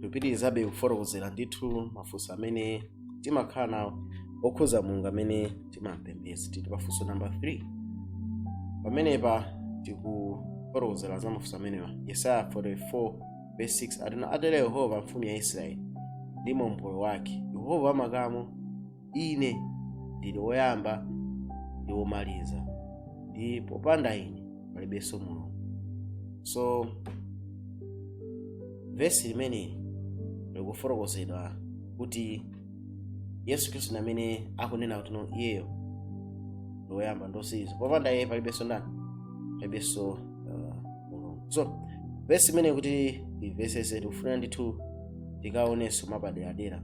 tikupitirizabe kufotokozera ndithu mafunso amene timakhala nawo okhuza mulungu amene timampembedza tili pafunso namba 3 pamenepa tikufotokozera za mafunso amenewa yesaya 44 verse 6 atino atero yehova mfumu ya israeli ndi mombolo wake yehova wamakamu Ine ndili woyamba ndi womaliza, ndi popanda ine palibenso Mulungu. So vesi limeneli likufotokozedwa kuti Yesu Khristu ndi amene akunena kuti no iyeyo ndi woyamba ndi womaliza, popanda iye palibenso ndani, palibenso uh, Mulungu. So vesi limeneli kuti imvetsetse tikufunira ndithu tikalionenso mwapaderadera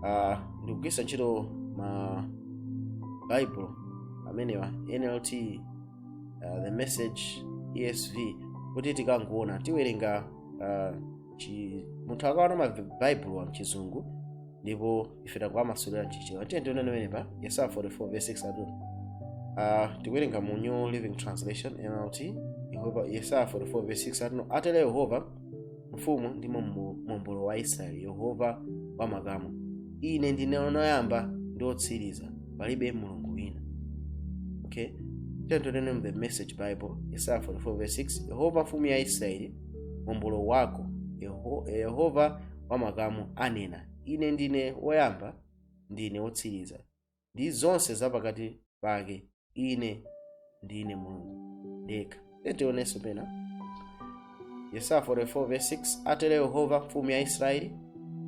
uh, ndikugwiritsa ntchito ma bible amenewa nlt uh, the message esv kuti tikangoona tiwerenga uh, chi, munthu akaona ma bible a mchizungu ndipo ife tangowamasulira mchichewa tiye tione amene pa yesaya 44 verse 6 atu uh, tikuwerenga mu new living translation nlt yehova yesaya 44 verse 6 atuno atero yehova mfumu ndi Mombo- mombolo wa israeli yehova wa makamu ine ndine woyamba ndi wotsiriza palibe mulungu wina okay tiyeni mu the message bible yesaya 44 verse 6 yehova mfumu ya israeli mombolo wako Yeho- yehova wa makamu anena ine ndine woyamba ndine wotsiriza ndi zonse za pakati pake ine ndine mulungu ndekha tionenso pena yesaya 44:6 atero yehova mfumu ya israeli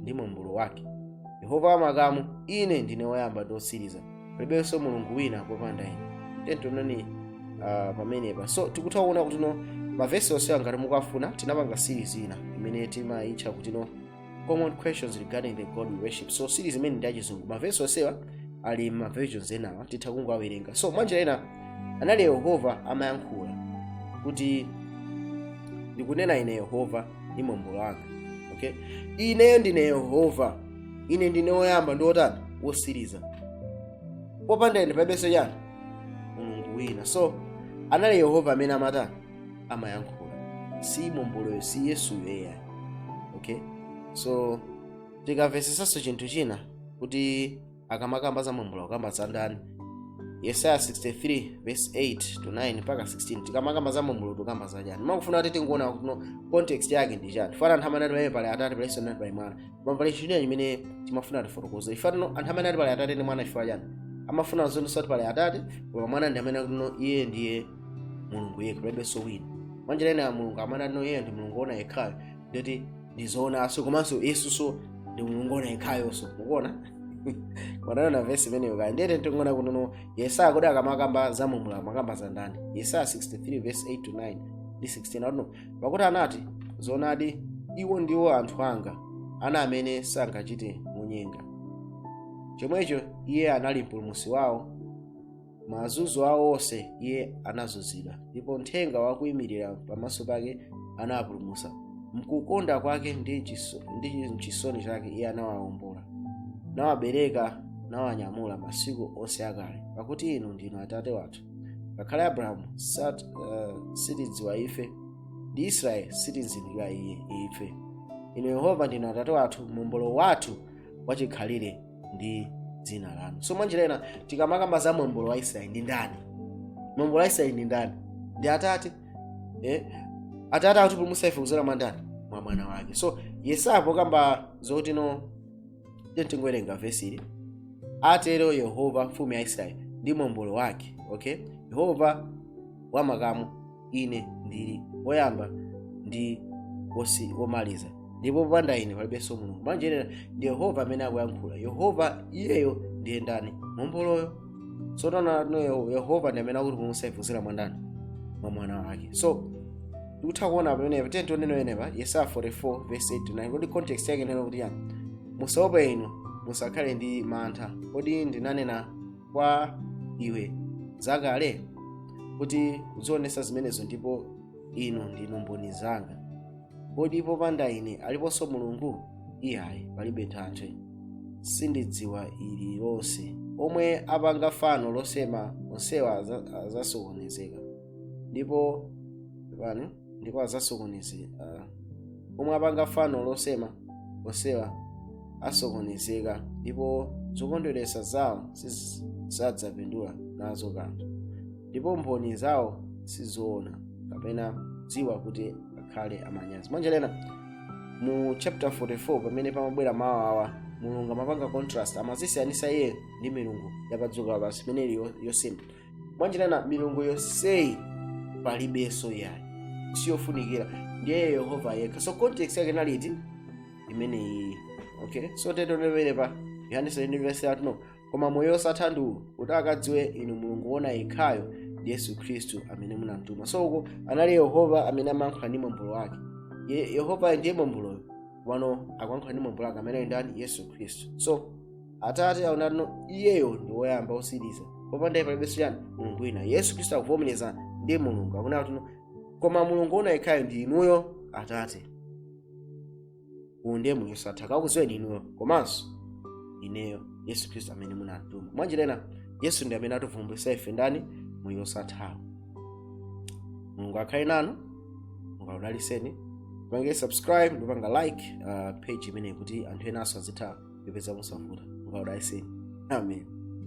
ndi mombolo wake yehova wamakamu ine ndine woyamba ndi wotsiriza palibenso mulungu wina popanda ine tioneni uh, pamenepa so tikutha kuona kutino mavesi onsewa ngati mukafuna tinapanga series ina imene timayitcha kutino common questions regarding the god we worship so series imene ndi yachizungu mavesi onsewa ali mma versions enawa titha kungowawerenga so mwanjira ina anali yehova amayankhula kuti ndikunena ine yehova ndi mombolo wanga okay ineyo ndine yehova ine ndine woyamba ndi wotani wotsiriza popanda ine palibenso chani mulungu wina so anali yehova amene amatani amayankhula si momboloyo si yesuyo eya okay so tikamvetsetsanso chinthu china kuti akamakamba za mombolo akamba za ndani yesaya 63 verse 8 to 9 mpaka 16 tikamakamba za mombolo tukamba za chani makufuna kuti tingoona kuti no context yake ndi chani chifukwa anthu amene ati pali eya pali atate palinso nati pali mwana koma pali chinthu china chimene timafuna tifotokoze ifatino anthu amene atipalaya atate ndi mwana chifukwa chani amafuna zonse kuti pali atate koma mwana ndi amene akuti no iye ndiye mulungu yekha palibenso wina mwanjira ina mulungu amene no iyeyo ndi mulungu ona yekhayo ndikuti ndizoonaso komanso yesuso ndi mulungu ona yekhayonso mukuona tione vesi imeneyo kaya ndiyete tingoona kuti no yesaya kodi akamakamba za mombolo amakamba za ndani yesaya 63 vesi 8 to 9 ndi 16 akuti no pakuti anati zoonadi iwo ndiwo anthu anga ana amene sangachite monyenga chomwecho iye anali mpulumusi wawo m'mazunzo awo onse iye anazunzidwa ndipo mthenga wakuyimirira pamaso pake anawapulumutsa mkukonda kwake ndi mchiso- ndi mchisoni chake iye anawawombola nawabereka nawanyamula masiku onse akale pakuti inu ndinu atate wathu ngakhale abrahamu sat, uh, sitidziwa ife ndi israeli satizindikira i- ife inu yehova ndinu atate wathu mombolo wathu wachikhalire ndi dzina lanu so mwanjira ina tikamakamba za mombolo wa israeli ndi ndani mombolo wa israeli ndi ndani ndi atate eh? atate akutipulumutsa ife kuzera mwa ndani mwa mwana wake so yesaya pokamba zoti no tingowerenga vesi ili atero yehova mfumu ya israeli ndi mombolo wake okay yehova wamakamu ine ndili woyamba ndi wosi- womaliza ndipo popanda ine palibenso mulungu mwanjira ina ndi yehova amene akuyankhula yehova iyeyo ndiye ndani momboloyo so kuti no Yeho- yehova ndi amene akutipulumutsa ife kudzera mwa ndani mwa mwana wake so tikutha kuona pamenepa tiye tionene pamenepa yesaya 44 verse 8 9 kodi context yake ikunena kuti chiyani musaope inu musakhale ndi mantha kodi sindinanena kwa iwe zakale ndi kuzionetsa zimenezo ndipo inu ndinu mboni zanga kodi popanda ine aliponso mulungu iyayi palibe thanthwe sindidziwa ili lonse omwe apanga fano losema onsewa aza- azasokonezeka ndipo pano ndipo adzasokonezeka omwe apanga fano losema onsewa asokonezeka ndipo zokondweretsa zawo sizidzapindula nazo kanthu ndipo mboni zawo sizoona kapena dziwa kuti akhale a manyazi mwanjira ina mu chapter 44 pamene pamabwera mawu awa mulungu amapanga contrast amazisiyanisa iye ndi milungu yapadziko lapansi imene ili yo- yosema mwanjira ina milungu yonseyi palibenso yayi siyofunikira ndiye yehova yekha so context yake inali imeneyi okay so tiye tibwerere pa yohane 7 no koma moyo osatha ndi uwu kuti akadziwe inu mulungu wona yekhayo ndi yesu khristu amene munamtuma so uko anali yehova amene amayankhula ndi mombolo wake Ye- yehova ndiye momboloyo pano akuyankhula ndi mombolo wake amene ali ndani yesu khristu so atate awonanso iyeyo ndi woyamba otsiriza popanda iye palibenso chiyani mulungu wina yesu khristu akuvomereza ndi mulungu akunena kuti koma mulungu woona yekhayo ndi inuyo atate uwu ndiye moyo wosatha akakudziweni inuyo komanso ineyo yesu khristu amene munamtuma mwanjira ina yesu ndi amene ativumbulutsira ife ndani moyo wosathawo mulungu akhale nanu mulungu akudalitseni pangani subscribe ndipo pangani like uh, page imeneyi kuti anthu enanso azitha kupeza mosavuta mulungu akudalitseni amen